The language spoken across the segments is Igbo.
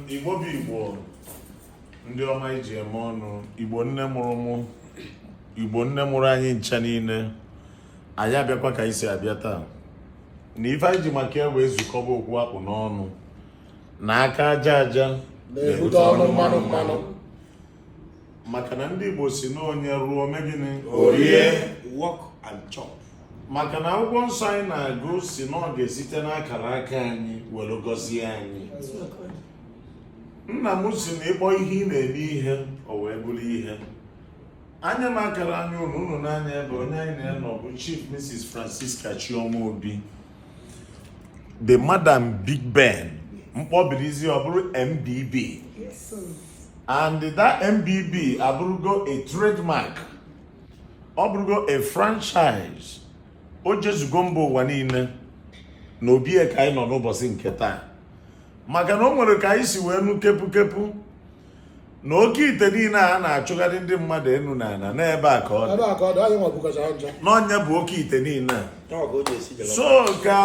igbo bụ igbo ndị ọma iji eme ọnụ igbo nne mụrụ mụ igbo nne mụrụ anyị ncha niile anyị abịakwa ka anyị si abịa taa na ife anyị ji maka ya wee zukọba okwu akpụ n'ọnụ na aka aja aja na-ebute ọnụ mmanụ mmanụ maka na ndị Igbo sị na onye rụọ megịnị o rie work and chop maka na akwụkwọ nsọ anyị na-agụ sị na ọ ga-esite n'akara aka anyị were gọzie anyị nna m sị na ịkpọ ihe ị na-eme ihe o wee bụrụ ihe anya m akara anya unu unu n'anya ebe onye anyị na-anọ bụ Chief Mrs. Francisca Chioma Obi the madam big ben m kpọbirizie ọ bụrụ mbb and that mbb abụrụgo a trademark ọ bụrụgo a franchise o jezugo mba ụwa niile na obi ya ka anyị nọ n'ụbọsị nke taa maka na o nwere ka anyị si wee nụ kepu kepu na oke ite niile a na-achụgharị ndị mmadụ enu na ana n'ebe a ka ọ dị na ọ nya bụ oke ite niile so ka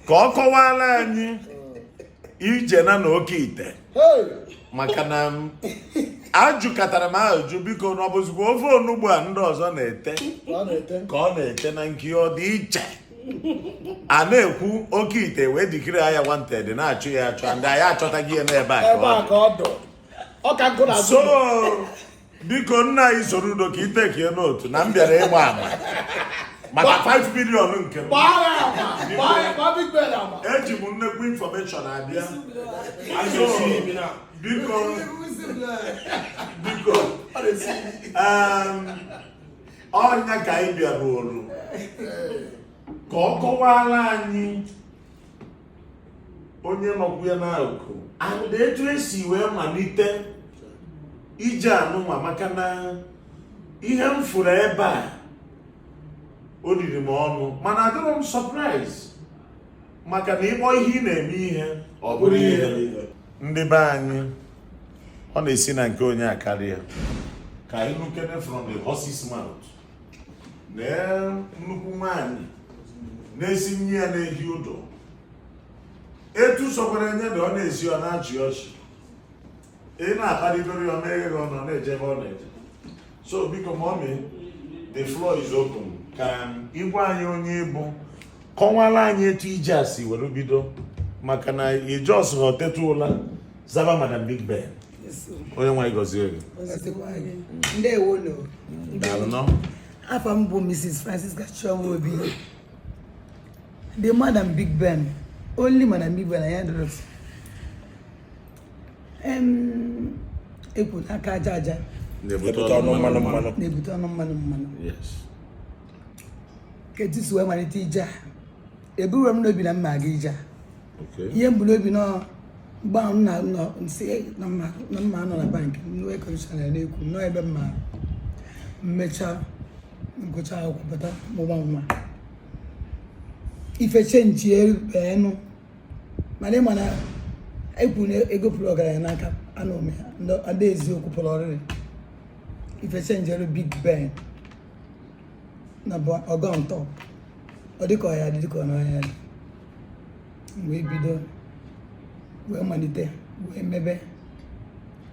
ka ọ kọwara anyị ije na na oke ite maka na ajụkatara m ajụjụ biko na ọ bụzikwa ofe onugbu a ndị ọzọ na-ete ka ọ na-ete na nke ọ dị iche a na-ekwu oke ite wee declare ya wanted na-achọ ya achọ ndị anyị achọtaghị ya n'ebe a ebe a ka ọ dụ ọ ka nkụ na-azụ so biko nna anyị Soludo ka i take note na m bịara ịgba ama maka 5 million nke m gbaa ya ama gbaa ya gbaa big ben ama eji m nnekwu information abịa So, biko biko um, ọ nya ka anyị bịara oru ka ọ kọwara anyị onye nọkwu ya n'akụkụ and etu esi wee malite ije anụnwa maka na ihe m fụrụ ebe a o riri m ọnụ mana adịrọ m surprise maka na ịkpọ ihe ị na-eme ihe ọ bụrụ ihe ndị be anyị ọ na-esi na nke onye a karịa ka anyị nụkene from the horse's mouth na nnukwu nwanyị na-esi nni ya na-eji udo etu sọkwara enye na ọ na-esi ọ na-achị ọchị ị na-akparịgoro ya meghe gị ọnụ na-eje ebe ọ na-eje so biko mọmi the floor is open ka ị gwa anyị onye ị bụ kọwara anyị etu ije a si were bido maka na ị justrọ teta ụla zaba madam big ben onyenwe anyị gọzie gị afa m bụ mrs francisca chioma obi the madam big ben only madam big ben anyị adọrọsị e kwu na aka aja aja na-ebute ọnụ mmanụ mmanụ na-ebute ọnụ mmanụ mmanụ ka etu si wee malite ije a eburọ m n'obi na m ma-aga ije a ihe m bu n'obi nọ mgbe ahụ nna nọ m sị na m ma-anọ na bank nwe commission ya na-ekwu nọ ebe m ma-emecha m gụcha akwụkwọ pụta mụba nwa ife chenjielụ enụ mana ị ma na e kwu na ego pụrụ ọgaranya n'aka anụ ome ha ndị eziokwu pụrụ ọrịrị ife chenjiri big ben na ọgọ ntọ ọ dịka ọ ya-adị dịka ọ naghị adị wee bido wee malite wee mebe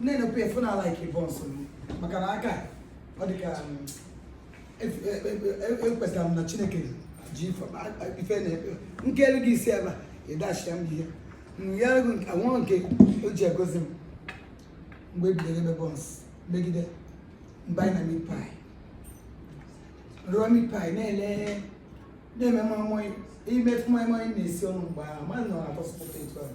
nne na pf na a like buns maka na aka ọ dị ka um, ekwetara e, e, e, m na chineke ji ife na nke elu gị isi ebe ị dachia m ihe nwa nke o ji agọzi m mgbe ebidoro mebe buns megide m banye na meat pie rụọ meat pie na-ele na-eme moi moi ime moi moi na-esi ọnụ mgbe ahụ ma nọ na buns pụta etu ahụ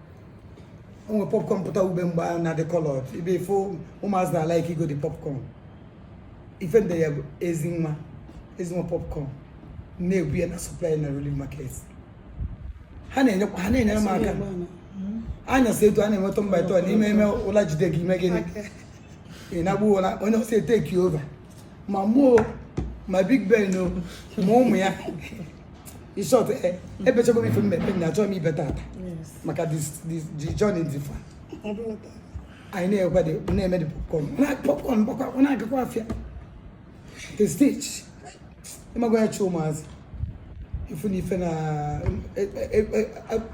o nwere popcorn pụta ube mgbe a na-adị coloured ibe ife ụmụazị na like ịgo the popcorn ife ndị ya bụ ezi nwa ezi nwa popcorn na-ebu ya na supply na relief market ha na-enyekwa ha na-enyere m aka anyasị etu a na-ewe turn by turn i mee mee ụla jide gị i mee gịnị ị na-agbu ụla onye ọzọ e take over ma mụ o ma big ben o ma ụmụ ya in short eh, ebechago m ife m ma-ebe na achọghị m ibe taata maka the journey dị far anyị na-egwede na-eme the popcorn na popcorn bụkwa ọ na-agakwa afịa the stage ịmagwa ya chi ụmụazị ị fụ na ife na eh, eh, eh,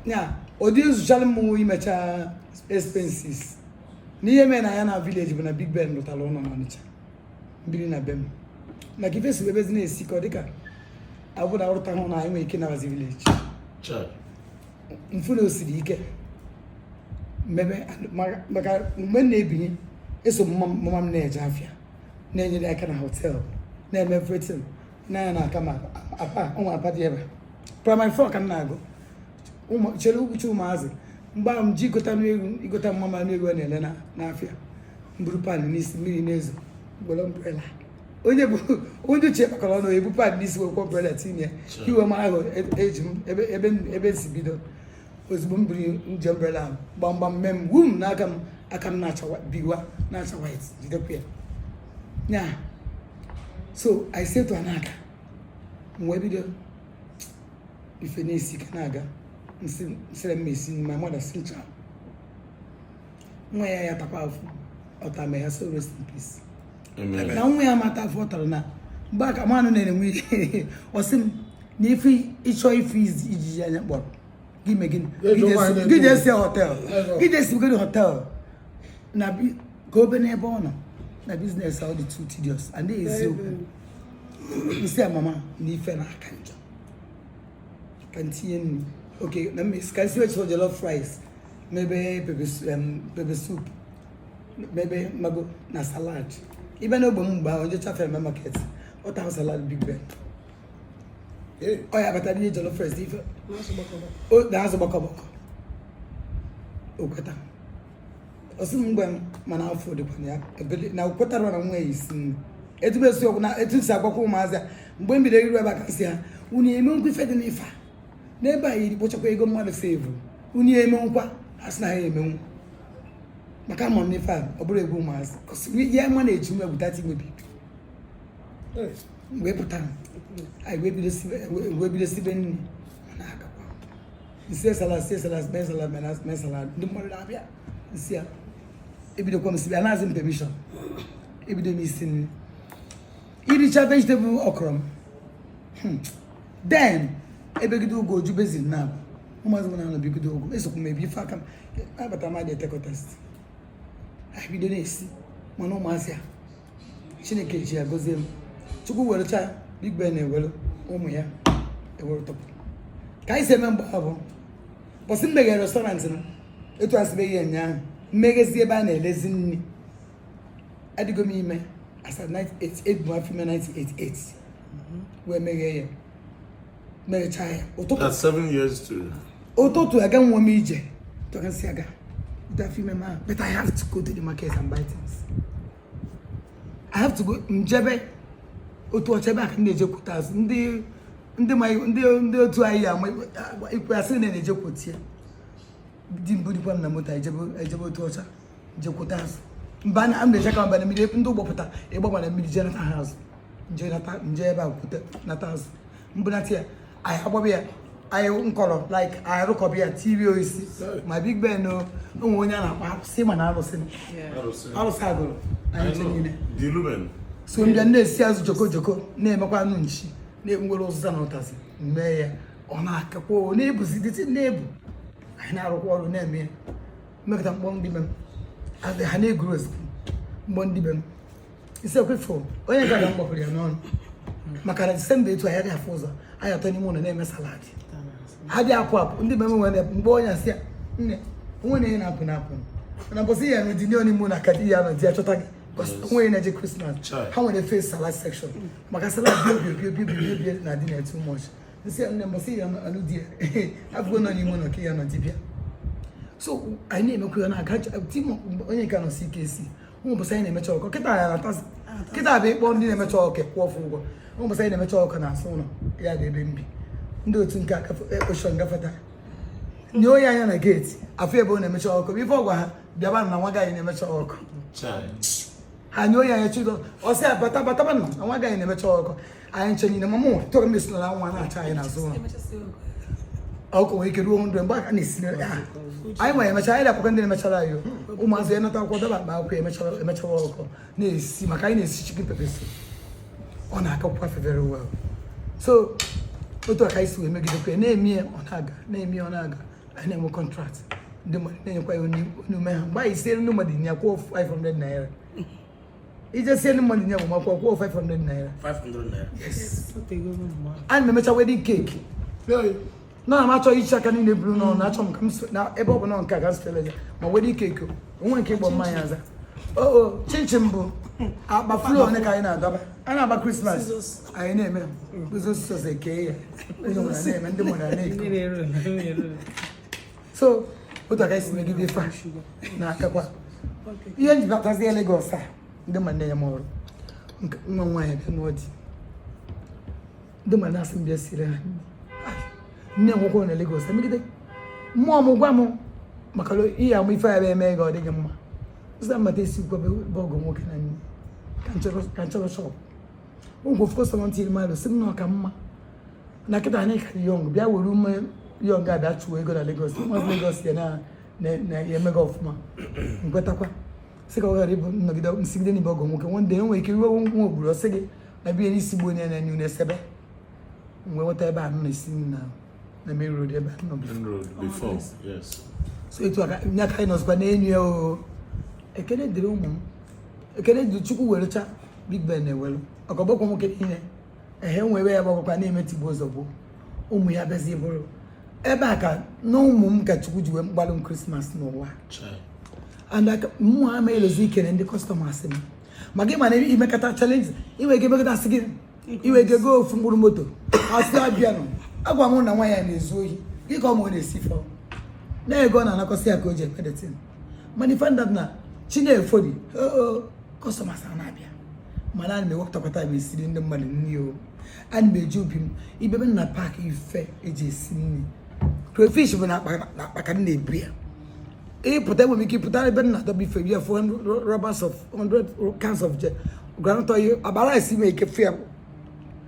ya adị ezuchala mụ imecha expenses n'ihe mere na ya na village bụ na big ben lụtara ụlọ n'ọnịcha biri na be m maka ife si bebezi na-esi ike ọ dịka abụda arụta hụ na anyị nwere ike nabazi village m fụ na o siri ike m mebe maka mgbe m na-ebinye eso mama m na-eje afịa na-enyere ya aka na hotel na-eme everything na-anya na aka ma apa ụmụ apa dị ebe primary four ka m na-agụ chere uche ụmụazị mgbe ahụ m ji igota nnu egwu igota mama nnu egwu a na-ele n'afịa m buru pan n'isi mmiri na-ezo gwere umbrella onye bụ onye uche kpakọrọ ọnụ ebu pan n'isi wekwa umbrella tinye iwe m ahụ eji m ebe si bido ozugbo m buru nje umbrella ahụ gbamgbam mee m wum n'aka m aka m na-acha biwa na-acha white jidekwa ya nya so i say to anaka m wee bido ife na-esi ike na-aga nsị nsịrị mmesi my mother si ncha nwa ya ya takwa afụfụ ọ ta may her soul rest in peace na nwa ya ma ata afụfụ ọ tara na mgbe aka mmanụ na-enwe ihe ọ sị m na ife ị chọ ife izi- ijiji anya kpọrọ gị mee gịnị Ego Gị nwaanyị jesi- gị na-ekwu. je isi hotel Ego. gị je isi gịnị hotel na bi- ka obe n'ebe ọ nọ na business ọ dị too tedious and they eziokwu m sị ya mama na ife na-aka njọ ka m tinye nnu okay na mmesi ka m siwe jollof rice mebe pepper soup mebe mago na salad even na ogbe m mgbe ahụ njecha fere market ọ taghị salad big ben ọ ya batara ihe jollof rice ife na azụ gbakọgbakọ o kweta ọ sị m mgbe mana afọ dịkwa ya ebele na o kwetara na nwa ya isi nri etu m esi okwu na etu m si agwakwa ụmụazị a mgbe m bidoro ịrụ ebe a ka m sị ha unu emenwukwa ife dị n'ife a n'ebe a yiri kpochakwa ego mmadụ serve unu emenwukwa ha sị na ha emenwu maka ama m ife a ọ bụrụ egwu ụmụazị ya ma na-eji nwa egwuta ti nwebi wee pụta anyị wee bido sibe wee bido sibe nri ma na-agakwa m sie salad sie salad mee salad mee na- mee salad ndị mmadụ na-abịa m sị ya ebidokwa m sibe anaghịzi m permission ebido m isi nri ị richa vegetable okro m then ebegide ugo ojubezi na abụ ụmụazị m na-anọbigide ogo esokwu m ebi ife aka m abata m adị etekọtast ha bido na-esi mana ụmụazị a chineke ji ya gozie m chukwu werecha big ben ewere ụmụ ya ewere tọpụ ka anyị si eme mgbe ọ bụ bọsị m meghere restaurant m etu asịbeghị ya ụnyaahụ m meghezie ebe a na-elezi nri adịgo m ime as at 1988 bụ afọ ime 1988 wee meghee ya merechaa ya ụtụtụ That's seven years to ụtụtụ aga nwa m ije tọrọ m sị aga bute afọ ime m ahụ but i have to go to the market and buy things i have to go m jebe Otuọcha ebe a ka na-ejekwute azụ ndị ndị ma ndị ndị otu anyị ya ama ikwe asị na na-ejekwute ya di m burikwa m na moto ejebe Otuọcha jekwuta azụ mba na m na-eje ka m baa na mmiri ebe ndị ụgbọ pụta ị gbaba na mmiri jee nata ha azụ m je ebe a kwute nata azụ m bunata ya anyị agbaba ya anyị nkọrọ like anyị rụkọba ya tiri oisi ma Big Ben o nwe onye a na-akpọ Arụsị ma na arụsị arụsị agụrụ anyị ncha niile so m bịa na-esi azụ joko joko na-emekwa anụ nchi na-enwere ụzịza na ụtazị mee ya ọ na-agakwa ọ na-ebuzi dịtị na-ebu anyị na-arụkwa ọrụ na-eme ya m mekọta m kpọọ ndị be m adị ha na-eguru ozugbo m kpọọ ndị be m isekwe fo onye gara m gbapụrụ ya n'ọnụ maka na disemba etu anyị adịghị afụ ụzọ anyị atọ n'ime ụlọ na-eme salad adịghị apụ apụ ndị be m nwere mgbe onye asị ya nne o nwe na ihe na-apụ na-apụ na mbọsị ya na dinio n'ime ụlọ ka di ya nọ di ya chọta gị onye na-eje krismas ha nwere face salad section maka salad bi na-adị na too much m sị nne mbọsị ya alụ di ya abụgo nọ n'ime ụlọ ka ya nọ di bịa so anyị na-emekwa ya na aga tim onye nke nọ CKC ụmụ boys anyị na-emecha ọkụkọ kịta ya na-atazi kịta bụ ịkpọ ndị na-emecha ọkụkọ kwụọ fa ụgwọ ụmụ boys anyị na-emecha ọkụkọ n'azụ ụlọ ya dị ebe m bi ndị otu nke ekpochọ gafeta nyonye anya na geeti afụ ebe ọ na-emecha ọkụkọ ife ọ gwa ha bịaba na nwa gaghị na-emecha ọkụkọ ha nyonye anya Chido ọ sị ya bata bata na nwa gaghị na-emecha ọkụkọ anyị ncha niile mama tọrọ m esinala nwa na-acha anyị n'azụ ụlọ ọkụkọ nwere ike ruo 100 mgbe a ka na-esina ya anyị nwere emechara anyị na-akwụkwọ ndị na-emechara anyị ụmụazị ya nata akwụkwọ dọba akpa akwụkwọ emechara emechara ọkụkọ na-esi maka anyị na-esi chicken pepper soup ọ na-agakwa very well so otu a ka e si wee megidekwa ya na-eme ya ọ na-aga na-eme ya ọ na-aga anyị na-enwe contract ndị mmadụ na-enyekwa ya onye ume ha mgbe anyị siere ndị mmadụ nri a kwụọ 500 naira ije sie ndị mmadụ nri agbamakwụkwọ kwụọ 500 naira 500 naira yes ana m emecha wedding cake na m achọghị ichi aka niile buru n'ọnụ achọ m ka m so- na ebe ọ bụla nke a ka m sitela ya ma wedding cake o, o nwe nke ibu mmanya aza oo chinchin bụ akpa flour one ka anyị na-adọba a na-agba krismas anyị na-eme ụzọ sos ekee ya onye ọbụla na-eme ndị mmadụ na-ego so otu a ka e si megide ife a na-akakwa ihe nji batazie Lagos a ndị mmadụ na-enye m ọrụ nwa nwaanyị bịa n'ọdị ndị mmadụ na-asị m bịa siere ha nri nwoke na Lagos emegide mmụọ m gwa m maka ihe amụ ife ya bụ eme ga ọ dịghị mma ụzọ mmata esi gwa bụ ọgụ nwoke na nne ka nchọrọ shọpụ ụgwọ fọsọ ntị mmadụ sị m na ọ ka mma na kịta anyị ka young bịa were ume young abịa chụwa ego na Lagos mmadụ Lagos ya na-eme gị ọfụma nkwetakwa sị ka ọ ghara ịbụ nnọgide nsigide n'ibe ọgọ nwoke nwa ndị enwere ike iwe nwa ogburu ọ sị gị na biye n'isi gbuo onye na-enye unu esebe mgbe nweta ebe a na-esi na na main road ebe a nọ before so etu a ka nye aka anyị nọzikwa n'enu ya o ekele dịrị ụmụ m ekele dịrị chukwu werecha big ben na-ewelu ọkọgbọkwa nwoke niile ehe nwere ya gbabakwa na-eme tigbuo zọgbuo ụmụ ya bịazi bụrụ ebe a ka na ụmụ m ka chukwu ji wee gbaalụ m krismas n'ụwa mụ ama elozọ ikele ndị kọstọmas m maka ịma na imekọta chalenji inwe ike emekọta asị gị i nwe ike goo ofu mkpụrụ moto asị abịanụ agwa m na nwa ya na-ezu ohi dịka ọ mụ na-esi fọ na-ego na anakọsị ya ka o ji ekpedetin mana ife ndị na chinefobi kọstọmas a na-abịa mana ana m ewepụtakwata m esiri ndị mmadụ nri o ana m eji obi m ị bịa ebe m na-apaakị ife eji esi nri crayfish bụ n'akpa ka m na-ebu ya ịpụta enwere ike ịpụta ebe m na-adọba ife ị ya-afụ rubbers of 100 cans of groundnut oil abara esi m ị ga-afụ ya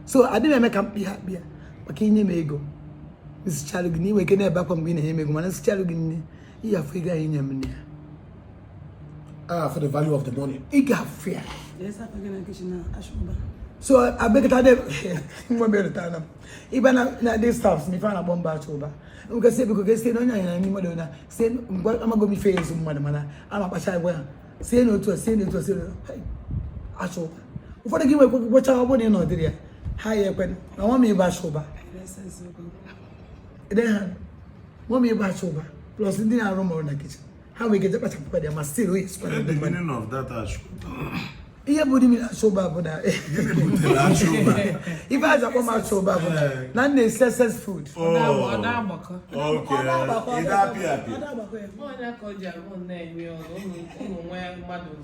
so adịghị eme ka m kpịa akpịa maka inye m ego nsichalụ gị nri i nwe ike na-ebe akwa mgbe ị na-enye m ego mana nsichalụ gị nri ị ga-afụ ego ahụ i nye m n'ime ya ah for the value of the money ị ga-afụ ya so abekata de nwa mere taa na ịba na na ndị staffs na ife a na-akpọ m bụ achọ ụba nke si ebiko gesi na onye anyị na ndị mmadụ na si ngwa amago m ife ya-ezu mmadụ mana ana m akpacha agwa ha sienụ otu a sienụ otu a sienụ otu a achọ ụba ụfọdụ gị nwekwa gwụcha ọ bụrụ na ị nọdịrị ya ha ya ekwe na nwa m ịba achọ ụba ede ha mọmi ịgba achọ ụba plus ndị na-arụ m ọrụ na kichin ha nwere ike je kpachapụkwa dị ya ma still oyi sikwa na ndị mmadụ ihe bụ the meaning achọ ụba bụ na ife eji akpọ m achọ ụba bụ na na m na-esi excess food Ọ na-agbakọ ya.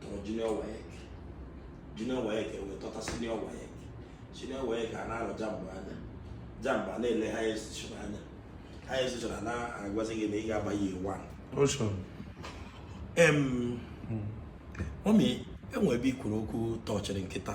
tọrọ junior WAEC junior WAEC e wee tọta senior WAEC senior WAEC a na-arọ JAMB anya JAMB a na-ele higher institution anya higher institution a na-agwazi gị na ị ga-aba year one em mọmị e nwe ebe i kwuru okwu tọchịrị m kịta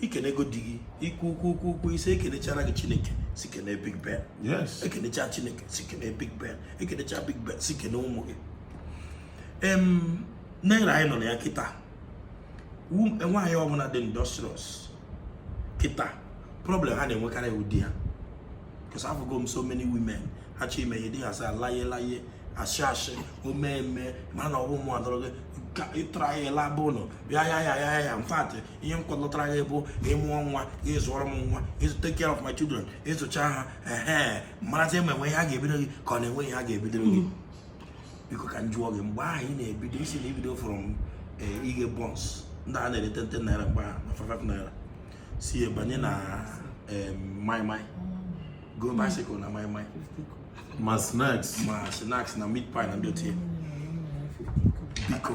ikenego di gị ikwu ukwu ukwu ukwu ise ekenechara gị chineke si kene big ben yes ekenecha chineke si kene big ben ekenecha big ben si kene ụmụ gị em na era anyị nọ na ya kịta Wom- nwaanyị ọbụla dị industrious kịta problem ha na-enwekarị bụ di ha because afụgo m so many women ha chọ ime ihe di ha sị laye laye asị asị ọ ma eme mana ọwụ mụ adọrọ gị ka ị try ya ị laba ụlọ bịa ya ya ya ya in fact ihe m kpọtara gị bụ ị mụọ nwa ị zụọrọ m nwa ị take care of my children ị zụcha ha ehe marazi ma enwe ihe a ga-ebido gị ka ọ na-enwe ihe a ga-ebidoro gị biko ka m jụọ gị mgbe ahụ ị na-ebido ị sị na ibido from eh, ighe buns ndị a na-ere ten ten naira mgbe ahụ na five five naira si banye na maịmaị go bicycle na maịmaị ma snacks ma snacks na meat pie na ndị otie biko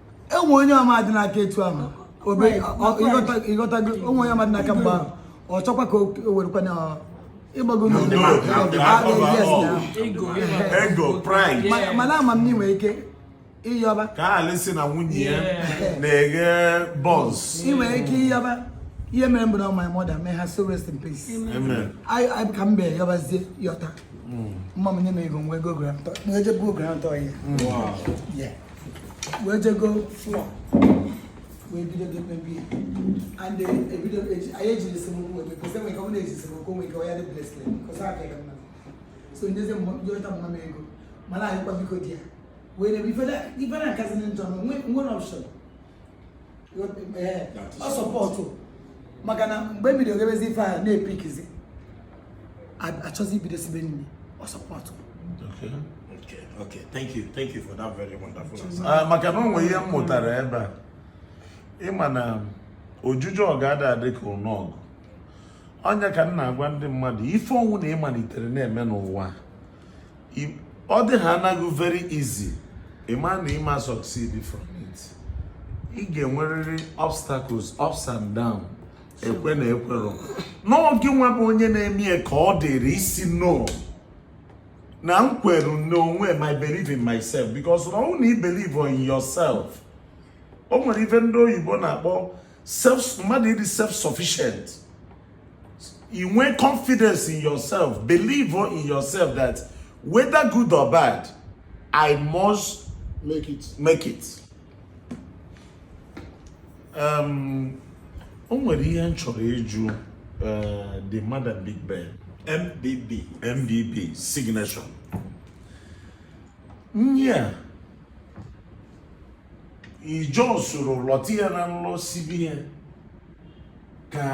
enwe onye ọma dị n'aka etu ahụ ịghọtago onwe onye ọma dị n'aka mgbe ahụ ọ chọkwa ka o werekwa na ịgbago mana ama m na ị nwere ike ịyọba ka alị si na nwunye ya na-eghe buns ị nwere ike ịyọba ihe mere m bụ na my mother may her soul rest in peace I ka m bee yọbazie yọta mama m nye m ego nwa ego groundnut wee jee go groundnut oil wee jee go flour wee bido mebe ya and eh, ebido anyị ejiri esemokwu wee because enwere ike ọ na-eji esemokwu nwere ike ọ ya dị blesịrị because a ka mma so ndị eze ndị yọta mama m ego mana anyịkwa biko di ya wee na ife na nkazị ndị ntọ nwere option ọ supportụ maka na mgbe m bido gabezi ife a na-epikizi achọzi ibido sibe nri ọ supportụ Okay, okay. Thank you. Thank you for that very wonderful answer. Ah, maka na o nwere ihe m mụtara ebe a ịma na ojije ọgụ ada adị ka ụna ọgụ ọ nya ka m na-agwa ndị mmadụ ife ọnwụna ị malitere na-eme n'ụwa ọ dị ha anaghị very easy ịma na ịma succeed from it ị ga-enwerịrị obstacles ups and down ekwe na ekwero na ọ gị nwa bụ onye na-eme ya ka ọ dịrị ị sị no na m kwere n'onwe m I believe in myself because na ọnwụ na ị believe in yourself o nwere ife ndị oyibo na-akpọ mmadụ ịdị self sufficient inwe confidence in yourself believe in yourself that whether good or bad i must make it make it um, o nwere ihe m chọrọ ịjụ uh, the madam big ben mbb mbb signature yeah ijosoro lọta ya na ụlọ sibe ya ka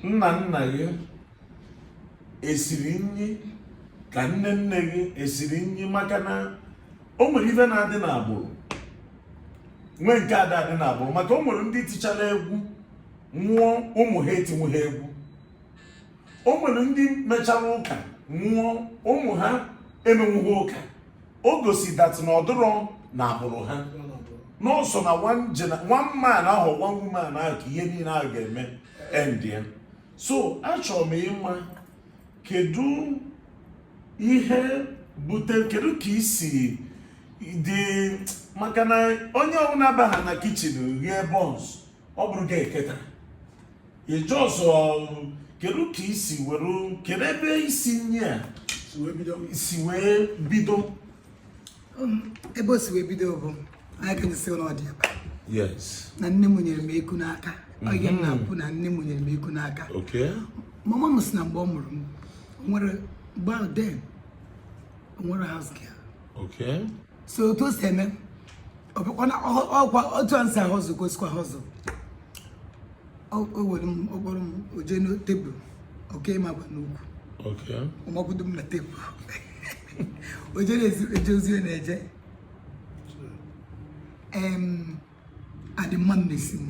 nna nna gị esiri nri ka nne nne gị esiri nri maka na o nwere ife na-adị n'agbụrụ nwee nke ada adị n'agbụrụ maka o nwere ndị tichara egwu nwụọ ụmụ ha etinwuha egwu o nwere ndị mechara ụka nwụọ ụmụ ha emenwughị ụka o gosi that na ọ dịrọ n'agbụrụ ha na ọ sọ na one man ahụ one woman ahụ ka ihe niile ahụ ga-eme end ya so achọrọ m ịma kedu ihe bute kedu ka i si dị maka na onye ọbụla abaha na kitchen rie buns ọ bụrụ gị eketa ịjụ ọzọ kedu ka i si were kedu ebe isi nri a si wee bido um, ebe o si wee bido bụ anyị ka nyesi ụlọ dị ebe na nne m nyere m eku n'aka oge m na-apụ na nne m nyere m eku n'aka mama m sị na mgbe ọ mụrụ m were gbaa wedding o nwerọ house girl so otu o si eme ọ bụkwana ọkwa otu anyị si hustle ka o sikwa hustle o were m ọ kpọrọ m o jee na tebụl o kee m akwa n'ukwu ọ makwudo m na tebụl o jee na-eje ozi na-eje adị mma mmesi m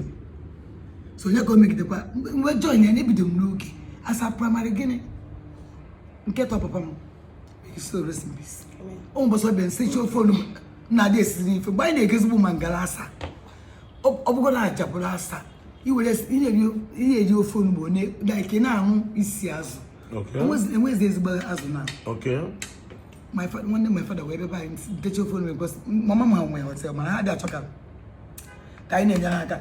so onye ka o megidekwa m wee join ya na ebido m n'oge as at primary gịnị nke atọ papa m soul rest in peace o nwe mbọsị ọ bịa sị chi ofe onugbu na-adị esi n'ife mgbe anyị na-eji ezigbo mangala asa ọ bụgo na ajabụrụ asa i were ihe eji ofe onugbu unlike now ọ wụ isi azụ enwezi ezigbo azụ now nwanne my father wee bebe anyị teach ofe onugbu because mama m ha nwee hotel mana ha adị achọka ka anyị na-enyere aka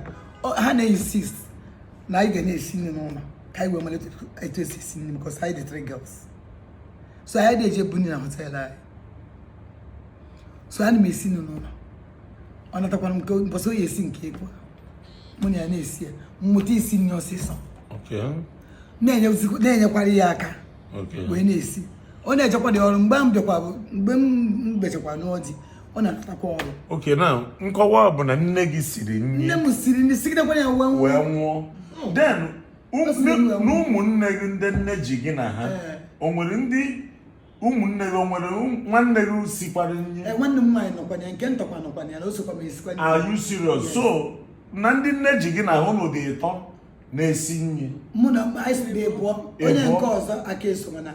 ha na-insist na anyị ga na-esi nri n'ụlọ ka anyị wee malite etu e si esi nri because anyị dị three girls so anyị adị eje bunye na hotel anyị so ana m esi nri n'ụlọ ọ natakwara m nke mbọsị ọ ya-esi nke ekwe mụ na ya na-esi ya m mụta isi nri ọsịsọ na-enyekwara ya aka wee na-esi ọ na-ejekwadị ọrụ mgbe m bịakwa bụ mgbe m bechakwa n'ụlọ di ọ na-atakwa ọrụ okay now nkọwa bụ na nne gị siri nri nne m siri nri sigidekwa ya wee nwụọ oh. then ụmụnne gị ndị nne ji gị na ha eh. o nwere ndị ụmụnne gị o nwere nwanne gị sikwara nri eh, nwanne m nwaanyị nọkwa na ya nke m tọkwa nọkwa na ya na o sokwa m esikwa nri are you serious so na ndị nne ji gị na ha ụnụ dị ịtọ na-esi nri mụ na mgbe anyị siri na pụọ onye nke ọzọ aka eso mana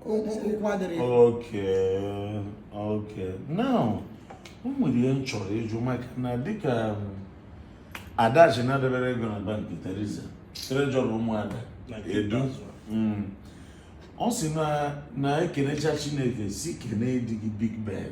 ụkwụ adịrị okay okay now o nwere ihe m chọrọ ịjụ maka na dịka um, Adachi na-edebere ego na bank Teresa treasurer ụmụada edu mm. ọ sị na na ekenecha Chineke sị kenee di gị Big Ben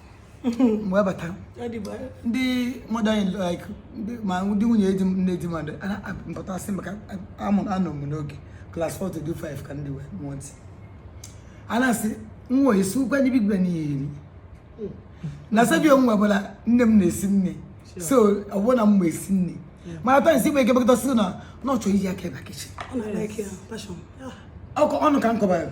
mgbe bata ndị mmadụ anyị like ma ndị nwunye di m nne di m adị mpụta asị maka amụrụ anọ m n'oge class 4 to 5 ka ndị wee mụọ ntị a na-asị nwa esi ụkwa ndị Big Ben eri na sebi onye ọbụla nne m na-esi nni so ọ bụrụ na m ma esi nni mana taa isi igbe ike bekọta si na na ọ chọrọ iji aka ịba kitchen ọkụ ọnụ ka m kọbara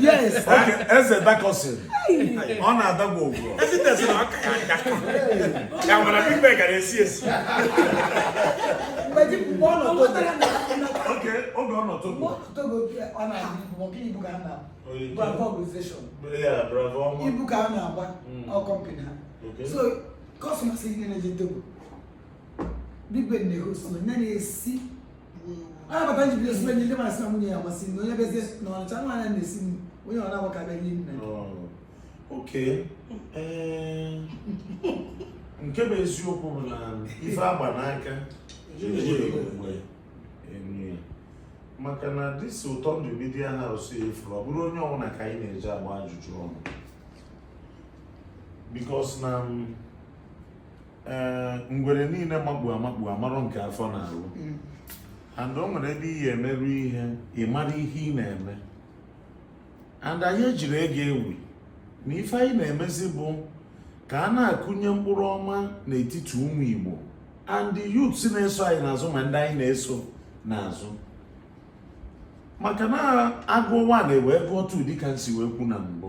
yes eze dakọsị ọ na-adagbu ogwu oge ọ nọ Togo ibu ka a na-agba company ha so customers ya na-eje Togo Big Ben na-ehost na na-esi a bata ji bido sibe ndị mara sị na nwunye ya ama esi nri onye bezie na Ọnịcha nwaanyị a na-esi nri onye ọ na-agwa ka bịa nye nni okay nke bụ eziokwu bụ na ife agba n'aka maka na this Ụtọ Ndụ media house ị fụrụ ọ bụrọ onye ọbụla ka anyị na-eje agba ajụjụ ọnụ because na ee ngwere niile makpu amakpu amarọ nke afọ na-arụ mm. and o nwere ebe ị ya-emeru ihe ị mara ihe ị na-eme and anyị ejirọ ya egwu egwu na ife anyị na-emezi bụ ka a na-akụnye mkpụrụ ọma n'etiti ụmụ Igbo and youths na-eso anyị n'azụ ma ndị anyị na-eso n'azụ maka na a gụọ one e wee gụọ two dịka m si wee kwuo na mbụ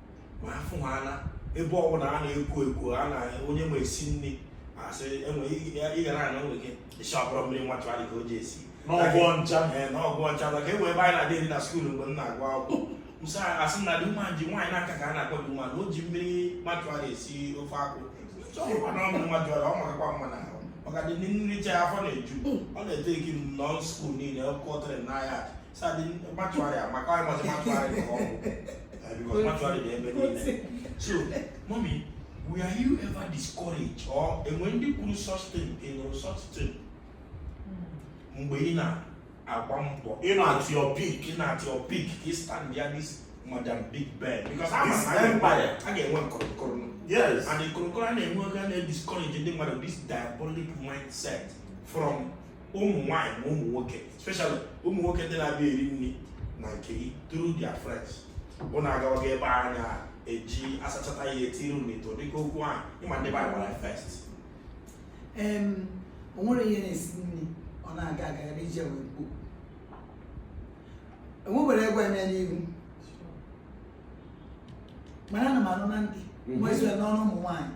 ma afụ ha na ebe ọbụla a na-ekwo ekwo a na onye ma esi nri asị enwe ị ga na-anọ onwe gị sha ọ bụrụ mmiri mortuary ka o ji esi n'ọgwụ ọncha ee n'ọgwụ ọcha maka e nwee ebe anyị na-adị eri na school mgbe m na-agụ akwụkwọ msa asị na Dimma ji nwaanyị n'aka ka a na-akpọ Dimma na o ji mmiri mortuary esi ofe akwụ chọkwa na ọ bụ mortuary ọ makakwa mma na ahụ maka i richaa afọ na-eju ọ na-ete ekiri m nọ school niile ọkụ ọtịrị n'ahịa were you ever discouraged or enwe ndị kwuru such thing ị nụrụ such thing hmm. mgbe ị na-agba mbọ ị nọ at your peak ị nọ at your peak ka ị stand ya this madam big ben because a ga-enwe nkụrụnkụrụ yes and nkụrụnkụrụ a na-enwe oge a na-ediscourage ndị mmadụ this diabolic mindset from ụmụ nwaanyị na ụmụ nwoke especially ụmụ nwoke ndị na-abịa eri nri na nke gị through their friends bụ na agawaga ebe a na-eji asachata ya etiri n'ite dịka okwu ahụ ịma ndị bara gbara first o nwere onye na-esi nri ọ na-aga aga ebe ije wee mkpu enwebere egwu eme n'ihu mana ana m anụ na ntị mhm. nwezue n'ọnụ ụmụ nwaanyị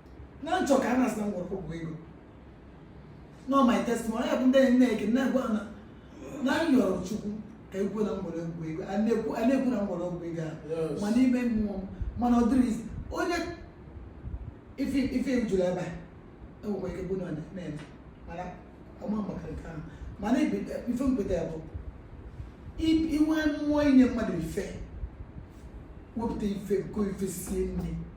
na m chọ ka a na-asị na m gwọrọ ọgwụ ego na ọ my testimony ya bụ ndị enyi na-eke na-agwa na na m yọrọ Chukwu ka ekwu na m gwọrọ ọgwụ ego a na-ekwu a na-ekwu na m gwọrọ ọgwụ ego a Yes. ma n'ime mmụọ m mana ọ dịrị izi onye ife ife m jụrụ ebe a enwekwa ike bụ na ọ na-eme mana ọma maka nke ahụ mana ibi- ife mkpeta ya bụ i- inwe mmụọ inye mmadụ ife wepụta ife go ife sie nri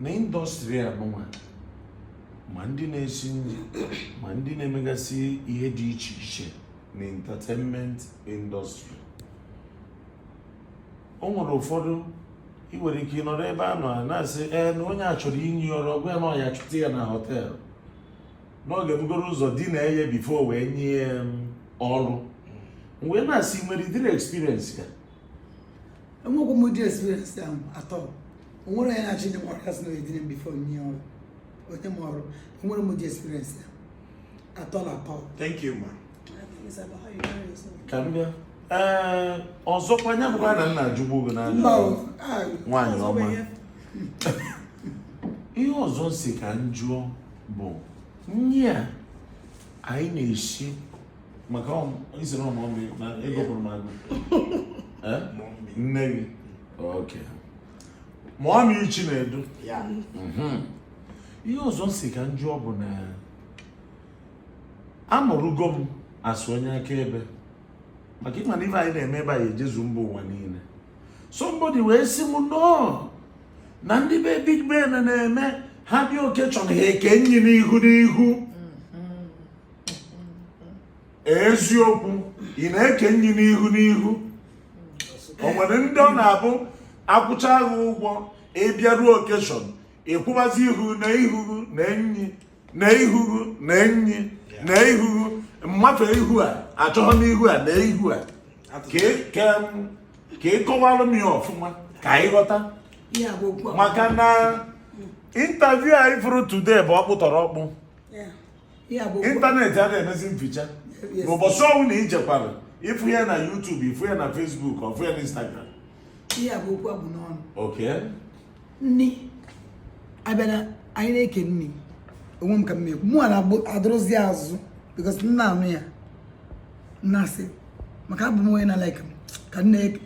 na industry a nụnwa ma ndị na-esi nri ma ndị na-emegasị ihe dị iche iche na entertainment industry o nwere ụfọdụ ị nwere ike ịnọrọ ebe a nọ na-asị ee na onye a chọrọ inye ọrụ ọ gwa ya na ọ ya-achọta ya na hotel na ọ ga-ebugoro ụzọ dinaa ya before wee nye ya ọrụ wee na-asị nwere ụdịrị experience a enwekwa m ụdị experience ahụ at all o nwerọ onye na-achọ inye m ọrụ ga-asị na edina m before o nye ọrụ o nye m ọrụ enwerọ m ụdị experience a at all at all Thank you, ma. ka m bịa ee ọzọkwa nya bụkwa na m na-ajụgbu gị na mba o ah, nwaanyị ọma ihe ọzọ m si ka m jụọ bụ nri a anyị na-esi maka isoro ụmụ ọmụ na ego pụrụ m agụ eh? nne gị okay mommy Chinedu mhm. ihe ọzọ m si ka m jụọ bụ na abụrụgo m also onye akaebe maka ịma na ife anyị na-eme ebe anyị ejezu mba ụwa niile somebody wee sị m no na ndị be big ben na-eme ha bịa occasion ha eke nri n'ihu n'ihu eziokwu ị na-eke nri n'ihu n'ihu o nwere ndị ọ na-abụ akwụcha gị ụgwọ ị bịaruo occasion ịkwụbazi ihu na ihuhu na enyi na ihuhu na enyi na ihuhu mmafe ihu a achọghị n'ihu a na ihu a ka ị kọwalụ m ya ọfụma ka anyị ghọta maka na interview anyị fụrụ today bụ ọkpụtọrọọkpụ internet a na-emezi m feature n'ụbọchị ọnwụ na ijekwara ị fụ ya na YouTube ị fụ ya na Facebook ị fụ ya na Instagram ihe a bụ okwu abụ n'ọnụ nni abịa na anyị na-eke nni onwe m ka m ekwu mụ na-adụrụzi azụ because nna anụ ya nna asị maka abụ m onye na like m ka nne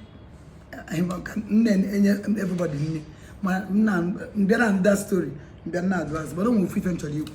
enye everybody nni ma na m bịara na that story m bịa nọdụ azụ mana o nwere ofu ife m chọrọ ikwu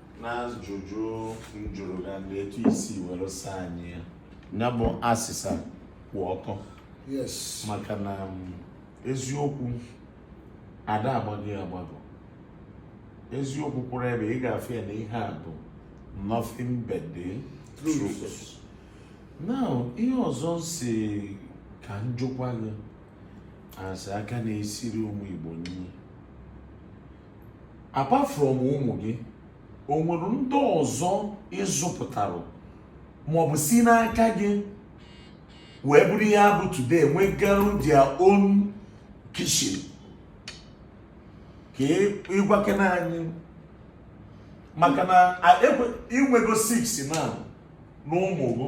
n'ajụjụ m jụrụ gị na etu i si were saa anyị ya ya bụ asịsa kwụ ọtọ yes maka na um, eziokwu ada agbagọ agbagọ eziokwu kwụrụ ebe ị ga-afụ ya na ihe a bụ nothing but the truth now ihe ọzọ sị ka m jụkwa gị a sị aka na-esiri ụmụ Igbo nri apart from ụmụ gị o nwere ndị ọzọ ị zụpụtara maọbụ si n'aka gị wee bụrụ ihe ha bụ today nwegarụ their own kitchen ka ị gwakene anyị maka na i nwego 6 na n'ụmụ gị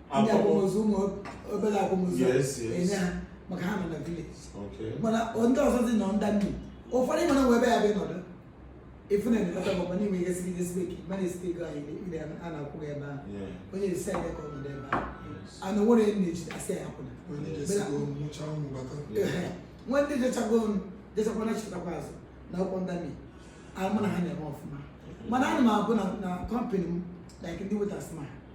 ndị akwamozu ụmụ obere akwamozu enye ha maka ha nọ na village mana ndị ọzọ dị nọ ndị nnu ụfọdụ ị ma na nwe ebe ya bụ ịnọdụ efu na elekọta bụ mana inwe ihe siri ihe siri ike mana esite ego anyị ndị a na-akwụ ya ebe ahụ onye esi anyị ka ọ nọdụ ebe ahụ ana nwere nne ji asị ya akwụna nwa ndị jechago ọnụ jechakwa na chetakwa azụ na akwụkwọ ndami amụ na ha na-eme ọfụma mana ana m abụ na company m like ndị waiters ma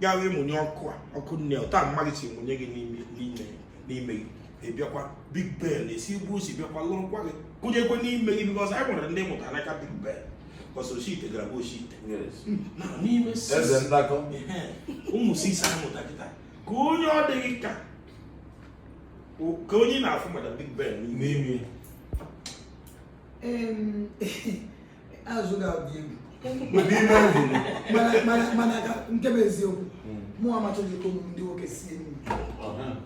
ya wee mụnye ọkụ a ọkụ nne ụta mmadụ si mụnye gị n'ime gị ị bịakwa Big Ben esi igbu si bịakwa lụrụkwa gị kụnyekwa n'ime gị because anyị nwere ndị mụtara n'aka Big Ben because Oshite gara bụ Oshite na n'ime ụmụ 6 a mụta kịta ka onye ọ dịghị ka ka onye na-afụ maka Big Ben n'ime azụ ga-adị egwu ụdị ime ahụ mana mana mana ka nke bụ eziokwu mụ amachaghị ka ụmụ ndị nwoke sie nri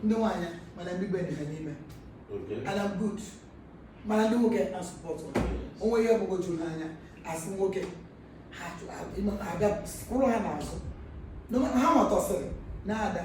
ndị nwaanyị mana Big Ben ha n'ime and I'm good mana ndị nwoke na-asupport onwe ihe ọgbụgwọ juru n'anya asị nwoke ha chụ- ha- ịma- ha abịa kwụrụ ha n'azụ Nọ- ha nwatọsịrị na-ada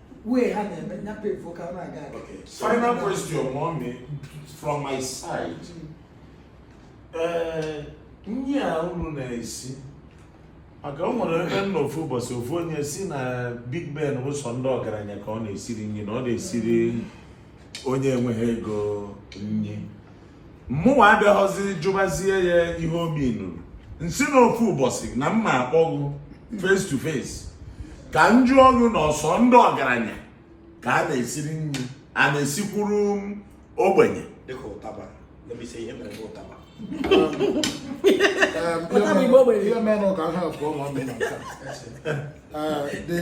wee ha na-eme nya pefu ka ọ na-aga aga Okay. Final question, mommy, from my side. Ee, nri a unu na-esi maka o nwere ebe m nọ ofu ụbọchị ofu onye sị na Big Ben bụ sọ ndị ọgaranya ka ọ na-esiri nri na ọ na-esiri onye enweghị ego nri mụnwa abịaghọzi jụbazie ya ihe obi nụrụ m sị na ofu ụbọchị na m ma-akpọ ghụ face to face ka m jụọ ghụ na ọ sọ ndị ọgaranya ka a na-esiri nri a na-esikwuru ogbenye dịka ụtaba let me say ihe mere n'ụtaba ihe mere ka ha abụọ ma mee na the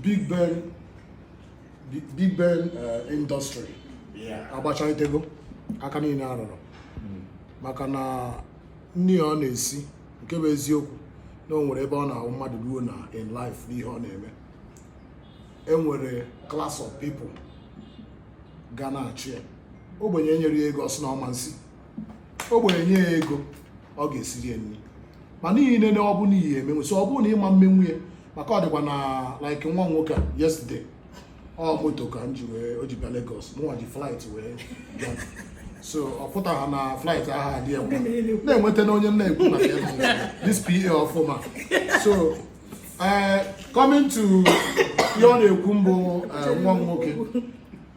Big Ben Big Ben uh, industry agbachalitego aka niile arụrụ hmm. maka na nri ọ na-esi nke bụ eziokwu na o nwere ebe ọ na-abụ mmadụ ruo na in life n'ihe ọ na-eme e nwere class of people ga na-achị ya ogbenye nyere ya ego ọ sị na ọ ma nsi ogbenye nye ya ego ọ ga-esiri ya nri ma n'ihe niile ọ bụ n'ihe emenwu so ọ bụrụ na ị ma mmenwu ya maka ọ dịkwa na like nwa nwoke a yesterday ọ moto ka m ji wee o ji bịa Lagos mụnwa ji flight wee bịa so ọ pụtara na flight ahụ adị ya mma na-enweta na onye m na-ekwu na ya na this PA ọfụma so eh, coming to ihe ọ na-ekwu mbụ eh, nwa m nwoke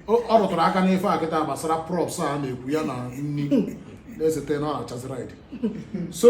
ọ ọ rụtụrụ aka n'ife a kịta gbasara props a na-ekwu ya na nri na-esete na ọ na-achazi ride so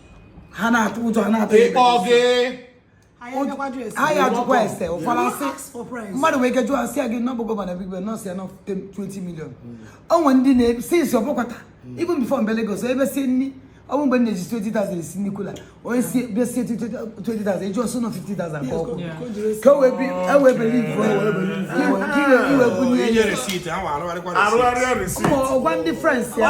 ha na-atụ ụjọ ha na-atụ ịkpọ gị anyị ajụkwa ese ụfọdụ asị mmadụ nwere ike jụọ asị ya gị nọbụ gọvanọ Big Ben na ọ sị ya na ọ 20 million o nwere ndị na-esi isi ọ bụkwata even before m bịa Lagos ebe si nri ọ bụ mgbe m na-eji 20,000 esi nri kula onye sị bịa sie 20,000 eji ọ sị na ọ 50,000 ka ọkụ ka o wee e beli ife iwe bunye ya ọ gwa ndị friends ya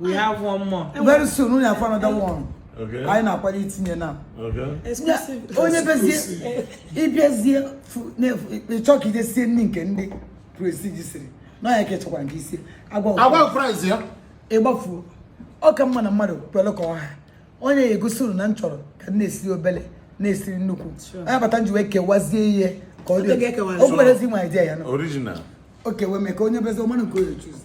we have one more very soon unu afụ another one Okay. anyị na-akwado itinye na Okay. exclusive onye bezie ị bịazie fu- na-efu- ị chọ ka i je sie nri nke ndị prestige siri na ya ka ị chọkwara nke isi agwa ụfọdụ. a gwa price ya ị gbafuo ọ ka mma na mmadụ kwere ka ọ ha onye ya egosi unu na m chọrọ ka m na-esiri obele na-esiri nnukwu onye bata m ji wee kewazie ihe ka ọ Oge dị ga-ekewazi. o kwerezi nwa idea ya na original o kewe mee ka onye bezi ọ mara nke onye choose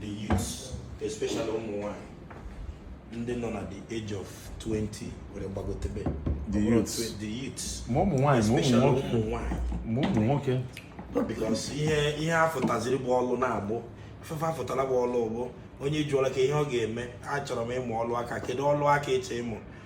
the youths especially ụmụ nwanyị ndị nọ na the age of 20 wee gbagotebe the youths the youths ma ụmụ nwanyị ma ụmụ nwanyị ma ụmụ nwoke because ihe ihe a fụtaziri bụ ọlụ na-agbụ afụfa afụtala bụ ọlụ bụ onye jụọla ka ihe ọ ga-eme achọrọ m ịmụ ọlụ aka kedu ọlụ aka ị chọ ịmụ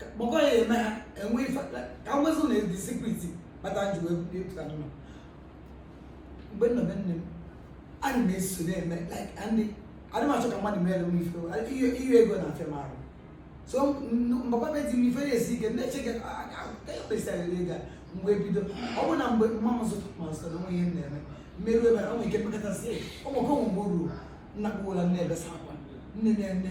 kpọkọ ya eme ha enwe ife ka nwezụ na edi sikriti kpata m ji wee bulie pụta n'ụlọ mgbe m nọ be nne m ana m eso na-eme like ndị adị m achọ ka mmadụ mere m ife ihe ego na-afịa m arụ so m bakwa be di m ife na-esi ike na-eche ka ekpesara ego a mgbe bido ọ bụ na mgbe mma m zụta ma zụta na o nwe ihe m na-eme m meruo ebe a nwere ike mekọtasị ụmụaka mgbe o ruo nna kpụwara nne ebesa akwa nne na-eme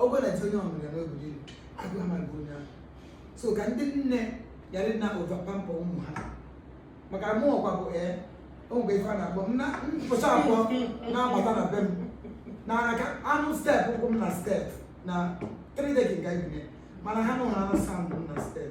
ọgwụ na-eti onye ọ mụrụ ya n'obodo ilu agụ amaghị onye ahụ so ka ndị nne yara ịna overpamper ụmụ ha maka mụ ọkwa bụ ee o nwe ife a na-akpọ m na mpụcha abụọ na-agbata na be m na aka anụ step ụkwụ m na step na 3 decking anyị bi na ya. mana ha nụ ha na sound m na step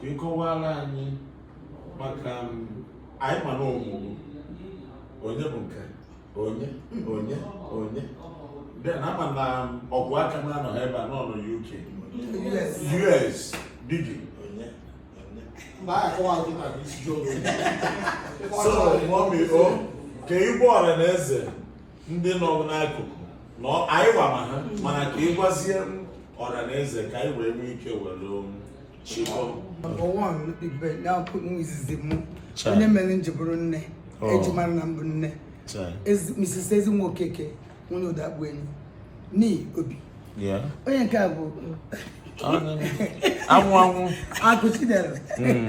ka ị kọwara anyị maka anyị ma na ọ mụrụ onye bụ nke onye onye onye then a ma na ọgwụ aka na anọ ebe a nọ na UK US bigi so mummy o ka ị gwa ọra na eze ndị nọ n'akụkụ na anyị wa ma ha mana ka ị gwazie ọra na eze ka anyị wee nwee ike were onye mere m ji bụrụ nne oh. e ji mara na m bụ nne Mrs. Ezinwa Okeke nwunye Ụdọakpụenyi ni obi onye nke a bụ anwụ anwụ akụ Chidera hmm.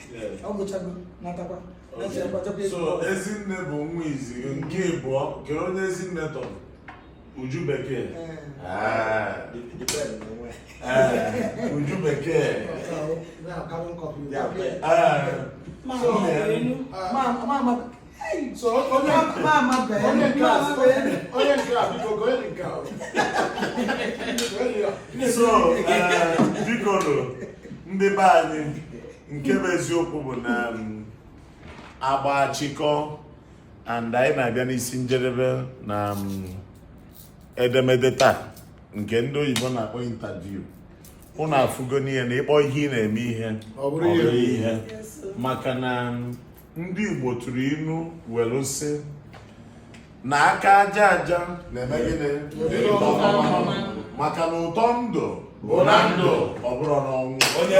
ọ gụchago natakwa so Ezinne bụ nwa izizi nke ịbụọ kedụ onye Ezinne tọrọ Uju Bekee ah. ah. Uju Bekee ah. so onye onye nke a onye nke a biko gụọ onye nke a so bikonụ ndị be anyị nke bụ eziokwu bụ na agba achịkọ and anyị na-abịa n'isi njedebe na edemede taa nke ndị oyibo na-akpọ interview ụnụ afụgo n'ihe na ị kpọọ ihe ị na-eme ihe ọ bụrụ ihe maka na ndị Igbo tụrụ inu welu sị na aka aja aja na-eme gịnị maka na ụtọ ndụ bụ na ndụ ọ bụrụ n'ọnwụ onye